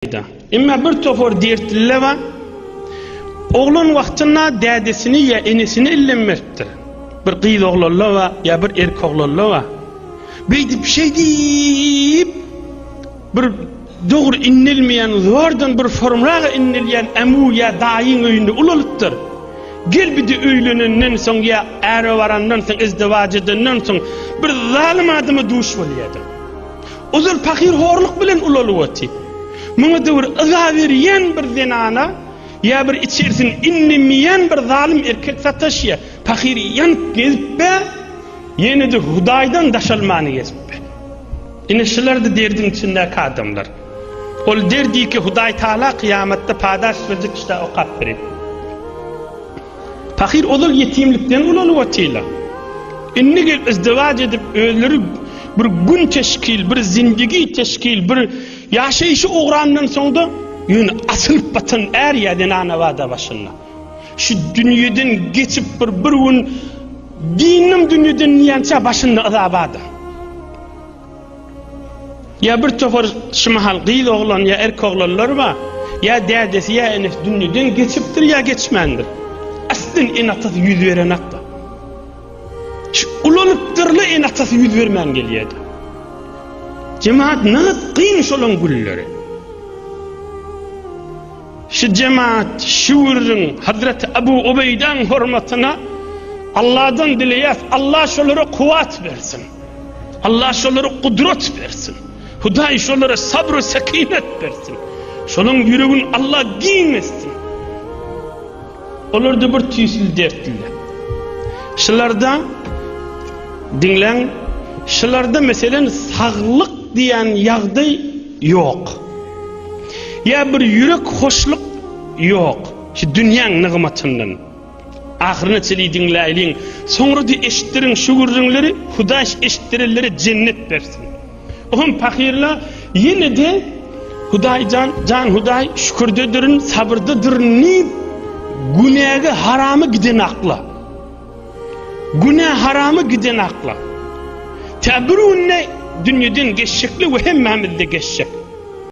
ýaýda. Emma bir topar dertliler bar, oglan wagtynda dädesini ýa enesini ellenmepdir. Bir gyz oglanlar bar ýa bir erk oglanlar bar. Beýdip, şeýdip, bir dogry inlilmeýän, zordan bir formraga inlilýän amu ýa daýyň öýünde ulalypdyr. Gel bide öýlenenden soň ýa äre barandan soň, izdiwaç edenden soň bir zalym adama duş bolýardyň. Ozal pahyr horluk bilen ulalyp oty. Muňa döwür yza berýän bir zenana ýa bir içerisini inlemeýän bir zalym erkek sataşýa. Pahyr ýanyp gezipbe, ýene-de Hudaýdan daşalmany gezipbe. Ine şulardy derdiň içindäki adamlar. Ol derdiki Hudaýtagala kyýamatda padaş berjek işdä okap berer. Pahyr ozal ýetimlikden ulanyp otyrlar. Indi gelip izdiwaç edip özleri bir gün teşkil, bir zindigi teşkil, bir ýaşaýşy ugrandan soňda ýöne asylyp batan är ýa zenana bada başynda. Şu dünýeden geçip bir bir gün dindim dünýeden diýençä başynda yza bada. Ýa bir topar şu mahal gyz oglan ýa erk oglanlar bar, ýa dädesi ýa enesi dünýeden geçipdir ýa geçmändir. Aslyn ene-atasy ýüz berenakda. Şu ulanypdyrly ene-atasy ýüz bermän gelýärdi. Jemaat nagt gyn şolaň gülleri. Şu jemaat şu würrüň Hazrat Abu Ubeýdaň hormatyna Allahdan dileýär, Allah şolara kuwat bersin. Allah şolara gudrat bersin. Hudaý şolara sabr we sekinet bersin. Şolaryň ýüregini Allah giň etsin. Olarda bir tüýsli dertliler. Şularda diňläň, şularda meselen saglyk diýen ýagdaý ýok. Ýa bir ýürek hoşluk ýok. Şu dünýäň nygmatyndan. Ahyryna çenli diňläýliň. Soňra-da eşitdiriň şu gürrüňleri, Hudaý eşitdirenlere jennet bersin. O hem pahyryna ýene-de Hudaý jan, jan Hudaý şükürdedirin, sabyrdadyryn diýip, günäge, harama giden akla. Günä, harama giden akla. Tä bir günde dünýeden geçjekler we hemmämiz-de geçjek.